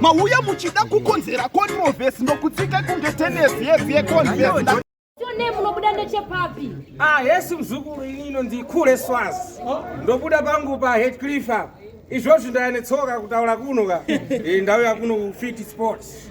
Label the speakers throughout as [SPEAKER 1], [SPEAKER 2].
[SPEAKER 1] mauya muchida kukonzera controversy ndokutsika kunge tenesi yedzi yeconvers ne munobuda
[SPEAKER 2] ndechepapi ah hesi
[SPEAKER 3] mzukuru ini inonzi kule swaz oh. ndobuda pangu pa headcliff apa izvozvi ndayanetsoka kutaura kuno ka eh, ndauya kuno fiti sports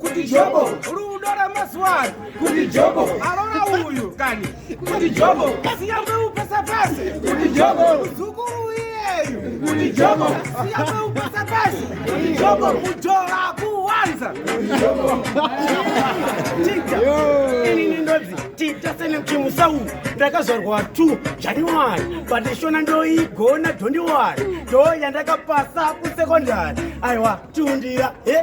[SPEAKER 3] kuti jobo rudo ramazuva ano kuti jobo arora uyu kani kuti jobo siyambe upesa pasi kuti jobo muzukuru iyeyu kuti jobo siyambe upesa pasi kuti jobo kujora kuwanza
[SPEAKER 4] inini ndodzi tita senechimusa uyu ndakazvarwa two january but shona ndoigona dhondiwari ndo yandakapasa kusekondari aiwa tiundira he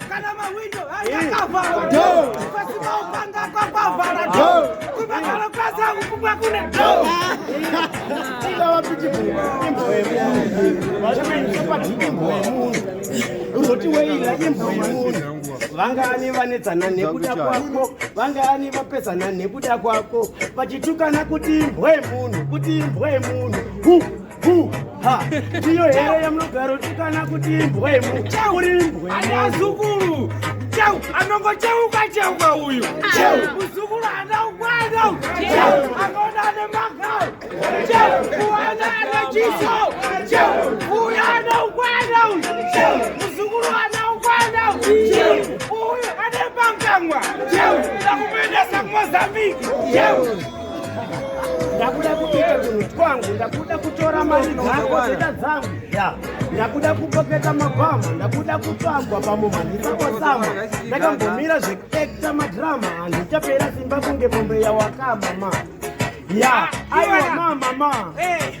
[SPEAKER 3] kana mahwindo akakavharwa do pasina upanga kwakavhara do kuvakaro
[SPEAKER 4] kwasa kupumwa kune do uzoti weila imbo yemunhu vangani vanetsana nekuda kwako vangani vapesana nekuda kwako vachitukana kuti imbwe munhu kuti imbwe munhu ndiyo here yamunogaro tikana kuti imbwemu uri imbwemuzukuru
[SPEAKER 3] cheu anongocheuka cheuka uyu muzukuru ana ukwana akaona ane magau kuwana ana chiso uyu ana ukwana uyu muzukuru ana ukwana uyu ane pangamwa akupendesa kumozambiki
[SPEAKER 4] ndakuda kuita tunhu twangu ndakuda kutora mari dzako zita dzangu ya ndakuda kupoketa mabhamu ndakuda kutambwa pamuma ndisakosama ndakambomira zvekuekta madrama handichapera simba kunge mombe yawakama ma ya aiwa ma mama hey.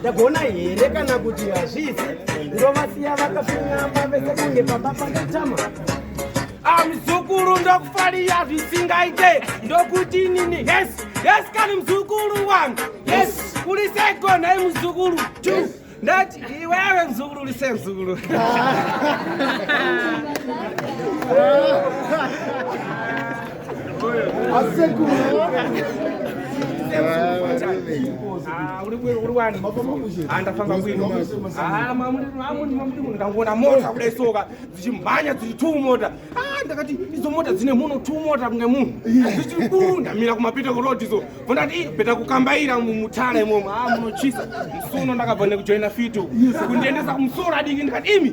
[SPEAKER 4] ndagona here kana kuti hazvizi ndovasiya vakafinyama vese kunge pamba pandotama
[SPEAKER 3] amzukuru ndokufaria zvisingaite ndokuti inini yes yes kani mzukuru wangu yes uri segona imuzukuru two yes ndati iwewe mzukuru lise mzukuru andafamba ndangona mota kudai soka dzichimhanya dziri two mota ndakati idzo mota dzine muno two mota kunge munhu dzichiri kuu ndamira kumapita kurod izo vondati bheta kukambaira mumutara imomo a munochisa musuno ndakabva nekujoina fito kundiendesa kumusoro adiki ndikati imi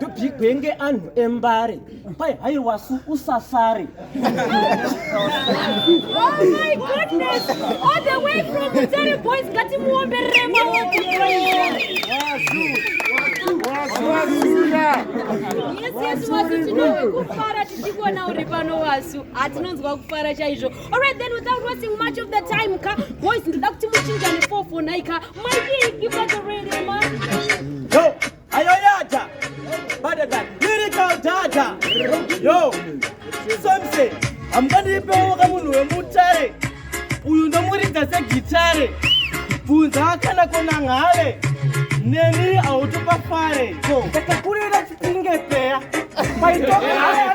[SPEAKER 4] topigwenge anhu embare pai hai wasu usasare
[SPEAKER 2] kufara tichikuona uri pano wasu hatinonzwa kufara chaizvo alright then without wasting much of the time ka boys ndoda kuti muchinjane 4 4 nai ka maii give us a radio man
[SPEAKER 4] Ayoyata, better than lyrical data. Yo, Samson, hamukandipeo kamunhu wemutare. Uyu ndomuridza segitare. Bvunza kana kona ngale. Neni autupa fare. Yo, takakurira chipinge peya. Paitoka haya.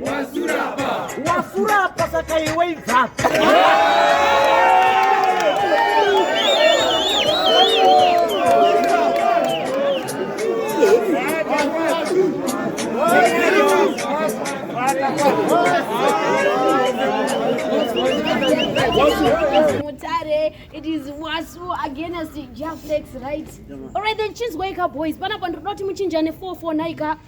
[SPEAKER 4] wasurapa wasurapa saka iwe ibvapa
[SPEAKER 5] mutare it is wasu against jaflex right alright then chinzwaika boys panapa ndinoda kuti muchinjane 449 ka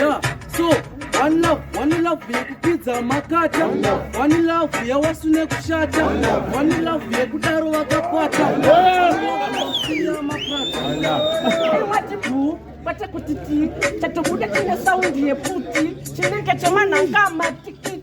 [SPEAKER 6] yeah so one love one love yekupidza makata one love yawasu nekushata one love yekudaro vakakwata kwete
[SPEAKER 4] kuti ti chatobuda chine saundi yeputi chinenge chemanhanga matiki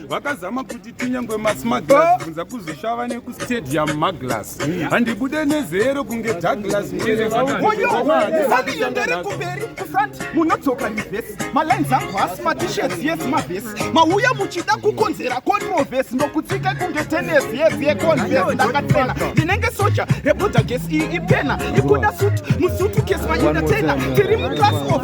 [SPEAKER 7] vakazama kuti tinyangwe masmaglas kunza kuzoshava nekustadium maglas handibude nezero kunge douglas muereaaiendere
[SPEAKER 1] kumberi kufront munodzoka nevhesi malines angu hasi matishets yes mavhesi mauya muchida kukonzera controves ndokutsika kunge tenes yes yeconves ndakatena ndinenge soja rebuda gesi iyi ipena ikuda suti musutu kesi maendatena tiri muclass of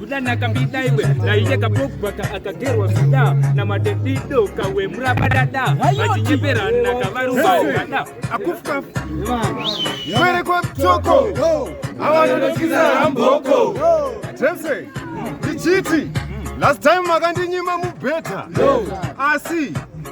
[SPEAKER 8] Dana kambida iwe na iye kapogwa ka akagerwa vida na madedido kawe muraba dada vachinyepera na kavaruba dada akufuka
[SPEAKER 7] kwere kwa mtoko awanonosikiza hamboko tese ndichiti last time makandinyima mubhedha asi